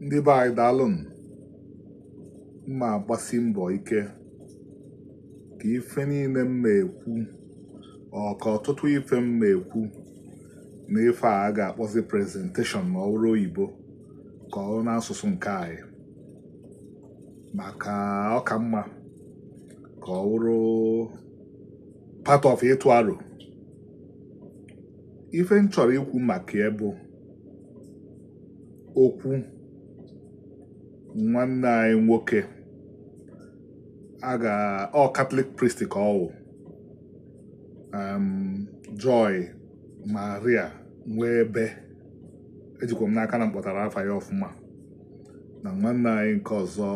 ndị be anyị daalụnụ m ma-agbasi mbọ ike ka ife niile m na-ekwu or ka ọtụtụ ife m na-ekwu na ife a a ga-akpọzi presentation ma ọ bụrụ oyibo ka ọ bụrụ n'asụsụ nke anyị maka ọ ka mma ka ọ bụrụ part of ịtụ aro ife m chọrọ ikwu maka ya bụ okwu nwanne anyị nwoke a ga ọ Catholic priest ka ọ wụ um, joy maria nwee ebe ejikwa m n'aka na m kpọtara afa ya ọfụma na nwanne anyị nke ọzọ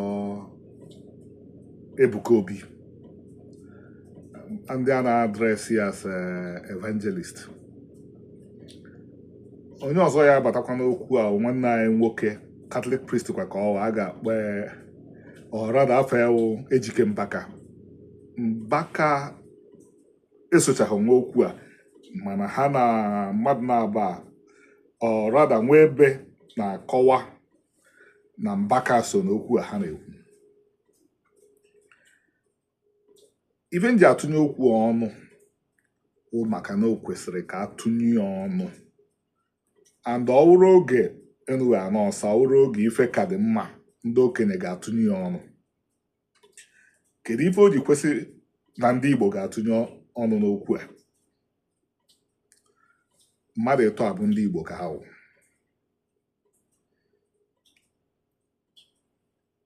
ebuka obi ndị a na-address ya as eh, evangelist onye ọzọ ya-abatakwa n'okwu a nwanne anyị nwoke Catholic priest kwa ka ọ wụ a ga-akpọ or rather afa ya wụ ejike mbaka mbaka esochaghị nwe okwu a mana ha na mmadụ na-aba or rather nwee ebe na-akọwa na mbaka so n'okwu a ha na-ekwu ife m ji atụnye okwu ọnụ bụ maka na o kwesịrị ka a tụnye ya ọnụ and ọ wụrụ oge enu wụ ana ọsa ọ wụrụ oge ife ka dị mma ndị okenye ga-atụnye ya ọnụ kedu ife o ji kwesị na ndị Igbo ga-atụnye ọnụ n'okwu a mmadụ ịtọ a bụ ndị Igbo ka ha wụ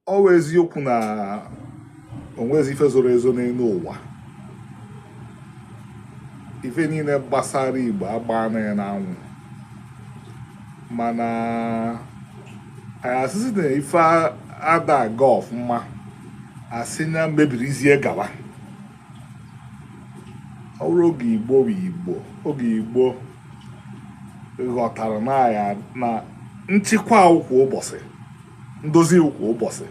ọ wụ eziokwu na o nwezi ife zoro ezo n'elu ụwa ife niile gbasara igbo agbaana ya n'anwụ mana anyị asịsị na ife ada aga ọfụma a sị nya mebirizie gawa ọ bụrụ oge igbo bụ igbo oge igbo ghọtara na ya na nchịkwa kwa ụbọsị ndozi iwu kwa ụbọsị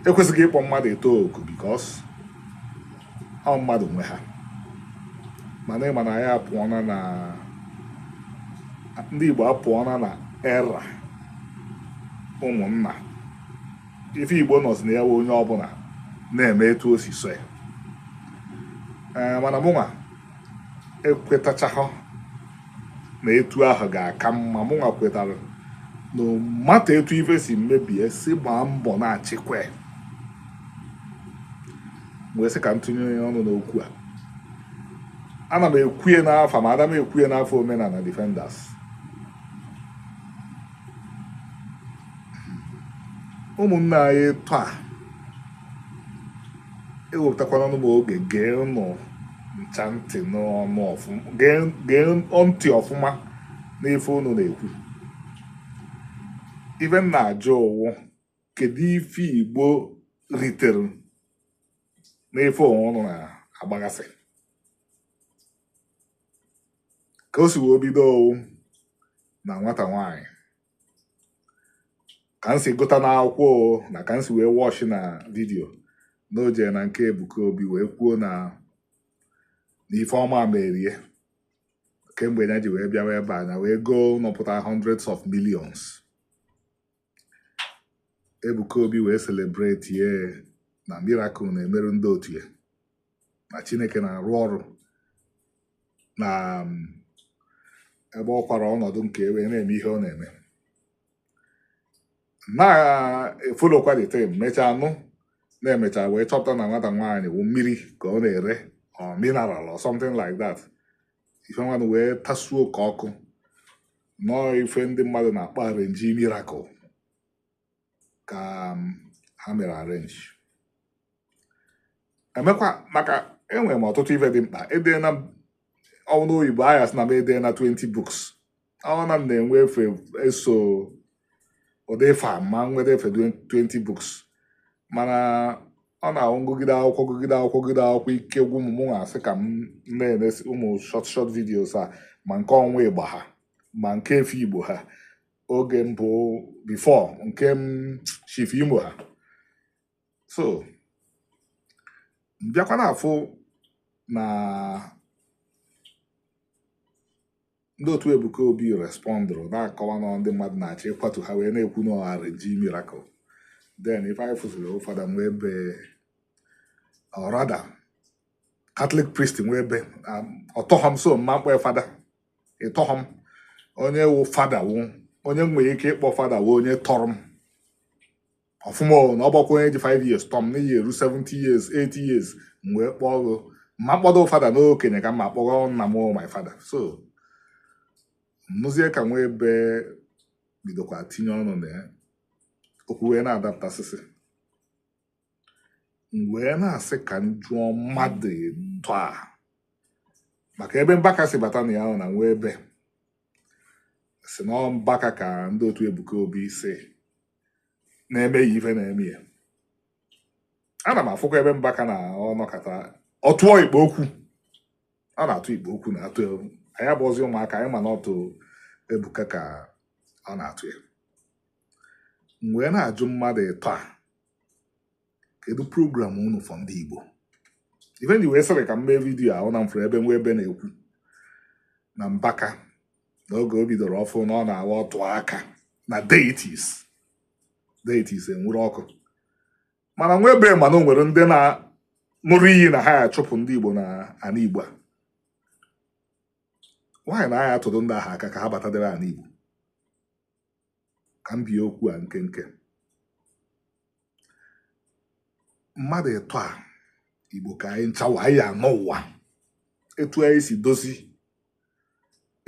e kwesịgo ịkpọ mmadụ ịtọ oku because ọ mmadụ nwe ha mana ị ma na anyị apụọna na ndị Igbo apụọna na era ụmụnna ife Igbo nọzi na ya onye ọbụla na-eme etu o si sọ ya eh, mana mụnwa ekwetachahụ na etu ahụ ga-aka mma mụnwa kwetara na ị mata etu ife si mebie si gbaa mbọ na-achịkwa wee sị ka m tụnye ọnụ n'okwu a ana m ekwu ye n'afa m ada m ekwu ye n'afa omenala defenders ụmụnne anyị taa ewepụtakwana nụ m oge gee ụnụ ncha ntị n'ọnụ ọfụma gee ntị ọfụma n'ife ụnụ na-ekwu ife m na-ajụ wụ kedu ife igbo ritere n'ife ọnwa ụnụ na-agbagasị ka o si wee bido ọ wụ na nwata nwanyị ka m si gụta n'akwụkwọ na ka m si wee watch na video na o jere na nke Ebuka Obi wee kwuo na n'ife ọma mere ye kemgbe ya ji wee bịawa ebe a nya wee goo ụnọ pụta hundreds of millions Ebuka Obi wee celebrate ye na miracle na-emerụ ndị otu ya na Chineke na-arụ ọrụ na um, ebe ọ kwara ọnọdụ nke ye wee na-eme ihe ọ na-eme na-efolokwa the time mechaa nụ na e mechaa wee chọpụta na nwata nwaanyị wụ mmiri ka ọ na-ere or mineral or something like that ife nwanụ wee tasuo ka ọkụ na ọ ife ndị mmadụ na-akpọ arrangee miracle ka um, ha mere arrange emekwa maka enwere m ọtụtụ ife dị mkpa edeela m ọ na oyibo a ya-asị na m edeela 20 books ọ na m na-enwe efe eso ụdị ife a ma wee defee 20 books mana ọ na-awụ m gụgide akwụkwọ gụgide akwụkwọ gụgide akwụkwọ ike gwụ m mụ asị ka m na-eme ụmụ short short videos a ma nke ọnwa ịgba ha ma nke efe ịgba ha oge mbụ before nke m chefuo ime ha so m bịakwa na-afụ na ndị otu Ebuka Obi respondụrụ na-akọwa na ndị mmadụ na-achọ ịkwatu ha wee na-ekwu na ọ arrangee miracle then ife anyị fụziri fada Nwebe or rather Catholic priest Nwebe ọ tọghọ m so ama m kpọ fada ị tọghọ m onye wụ fada wụ onye m nwere ike ịkpọ fada wụ onye tọrọ m ọfụma ọ na ọ bụkwa onye ji 5 years tọọ m na ị ya-eru 70 years 80 years m wee kpọọ gị ma kpọdo fada n'okenye ka m ma kpọrọ nna m my father so m nụzie ka Nwebe bidokwa tinye ọnụ na ya okwu wee na-adapụtasịsị m wee na-asị ka m jụọ mmadụ ịtọ a maka ebe mbaka si bata na ya wụ na nwa ebe sị na ọ mbaka ka ndị otu ebuka obi sị na-eme ya ife na-eme ya ana m afụkwa ebe mbaka na ọ nọkata ọ tụọ ikpe okwu ọ na-atụ ikpe okwu na-atụ ya anyị abụọzi ụmụaka anyị ma na otu ebuka ka ọ na-atụ ya m wee na-ajụ mmadụ ịtọ a kedu program unu for ndị Igbo ife m ji wee sịrị ka m mee vidiyo a wụ na m fụrụ ebe nwa ebe na-ekwu na mbaka n'oge o bidoro ọfụụ na ọ na-aga ọ tụọ aka na deities deities enwuru ọkụ mana nwa ebe ma na o nwere ndị na-ṅụrụ iyi na ha ya-achụpụ ndị Igbo na ana Igbo a why na a ya-atụrụ ndị ahụ aka ka ha batadebe ana Igbo ka m bie okwu a nkenke mmadụ ịtọ a igbo ka anyị nchawa anyị anọ ụwa etu anyị si dozi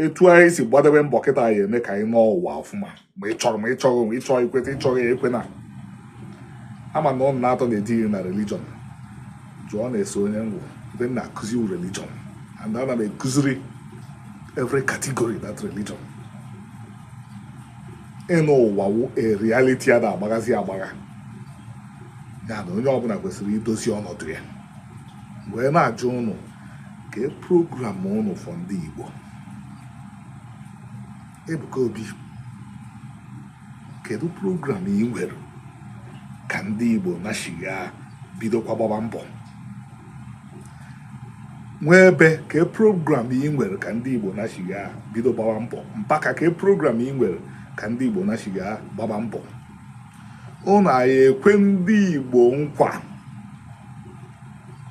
etu anyị si gbadebe mbọ kịta anyị eme ka anyị nọọ ụwa ọfụma ma ị chọrọ ma ị chọrọ ma ị chọọ ikweta ị chọrọ ya ekwena ama na ụnụ n'atọ na-etinye na religion jụọnụ ese onye m wụ ebe m na-akụzi religion and ana m ekụziri every category that religion ịnọ ụwa wụ a reality a da-agbaghazi agbagha na onye ọbụla kwesịrị idozi ọnọdụ ya wee na-ajụ ụnụ kee program ụnụ for ndị Igbo Ebuka Obi kedu program ị nwere ka ndị Igbo nachigha bidokwa gbaba mbọ nwa ebe kee program ị nwere ka ndị Igbo nachigha bido gbawa mbọ mbaka kee program ị nwere ka ndị Igbo nachigha gbaba mbọ ụnụ ya ekwe ndị Igbo nkwa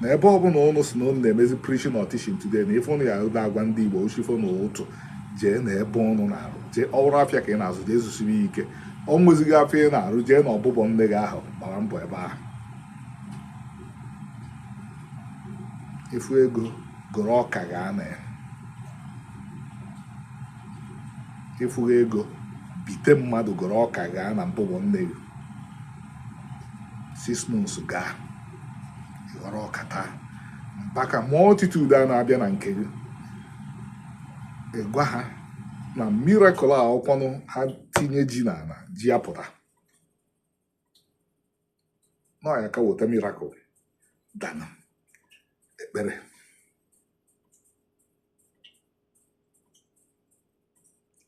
na ebe ọbụla ụnụ si na ụnụ na-emezi preaching or teaching today na ife ụnụ ya na-agwa ndị Igbo ọ chi fo na ụtụtụ jee na ebe ụnụ na-arụ jee rụọ afịa ka ị na-azụ jee zụsie ya ike o nwezighị afịa ị na-arụ jee na mbụbọ nne gị ahụ gbaa mbọ ebe ahụ ị fụ ego goro ọka gaa na ị fụghị ego bite mmadụ goro ọka gaa na mbụbọ nne gị six months gaa ị ghọrọ ọka taa mbaka multitude a na-abịa na nke gị ị gwa ha na miracle a wụkwanụ ha tinye ji n'ana ji apụta na ọ ya aka weta miracle than ekpere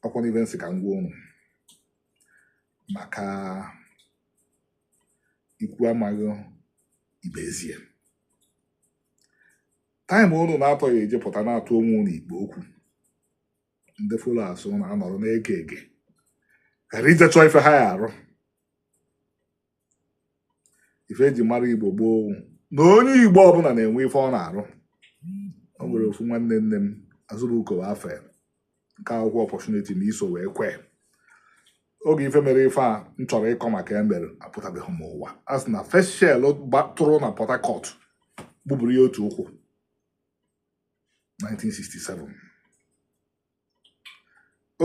ọkwanụ ife m sị ka m gwa unu maka ikwu amaghị ibe ezi ya time unu n'atọ ya eji pụta na-atụ onwe unu ikpe okwu ndị followers unu anọrọ na-ege ege ghara ije chọọ ife ha ya arụ ife eji mara igbo gboo wụ na onye igbo ọbụla na-enwe ife ọ na-arụ o nwere ofu nwanne nne m Azubuko bụ afa ya nke akwụkwọ opportunity na iso wee kwe oge ife mere ife a m chọrọ ịkọ maka ya mere apụtabeghị m ụwa a sị na first shell gbatụrụ na port harcourt gbuburu ya otu ụkwụ 1967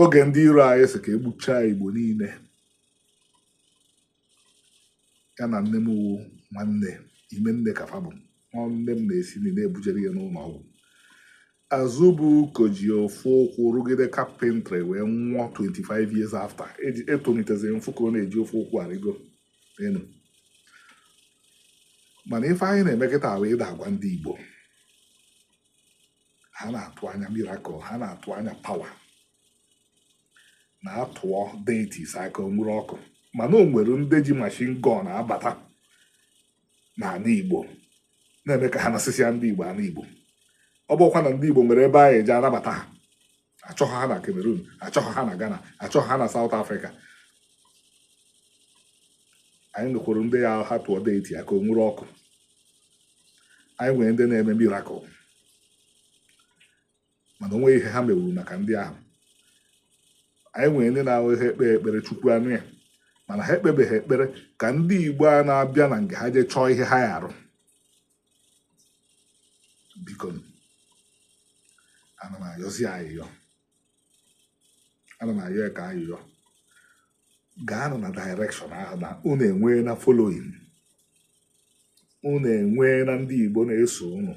oge ndị iro anyị sị ka egbuchaa igbo niile ya na nne m wu nwanne ime nne ka fa bụ nne m na-esi nni na-ebujere ya n'ụlọ ọgwụ Azubuko ji ofu ụkwụ rụgide carpentry wee nwụọ 25 years after etonitezie m fụ ka ọ na-eji ofu ụkwụ arịgo enu mana ife anyị na-eme kịta wụ ịda agwa ndị Igbo ha na-atụ anya miracle ha na-atụ anya power na a tụọ deities aka o nwere ọkụ mana o nwere ndị ji machine gun abata na ana Igbo na-eme ka ha nasịsịa ndị Igbo ana Igbo ọ bụkwa na ndị Igbo nwere ebe anyị eji anabata ha achọghị ha na Cameroon achọghị ha na Ghana achọghị ha na South Africa anyị nwekwuru ndị ya ha tụọ deity aka o nwere ọkụ anyị nwere ndị na-eme miracle mana o nweghị ihe ha menwuru maka ndị ahụ anyị nwere ndị na-awụ ha ekpee ekpere chukwu anụ ya mana ha ekpebeghị ekpere ka ndị igbo a na-abịa na nke ha jee chọọ ihe ha ya arụ biko ana m ayọzi ayịyọ ana m ayọ ka ayịyọ gaanụ na direction ahụ na unu enweena following unu enweena ndị igbo na-eso unu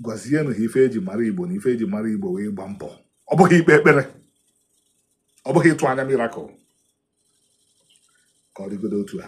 gwazienụ ha ife eji mara igbo na ife eji mara igbo wụ ịgba mbọ ọ bụghị ikpe ekpere ọ bụghị ịtụ anya miracle ka ọ dịgodo otu a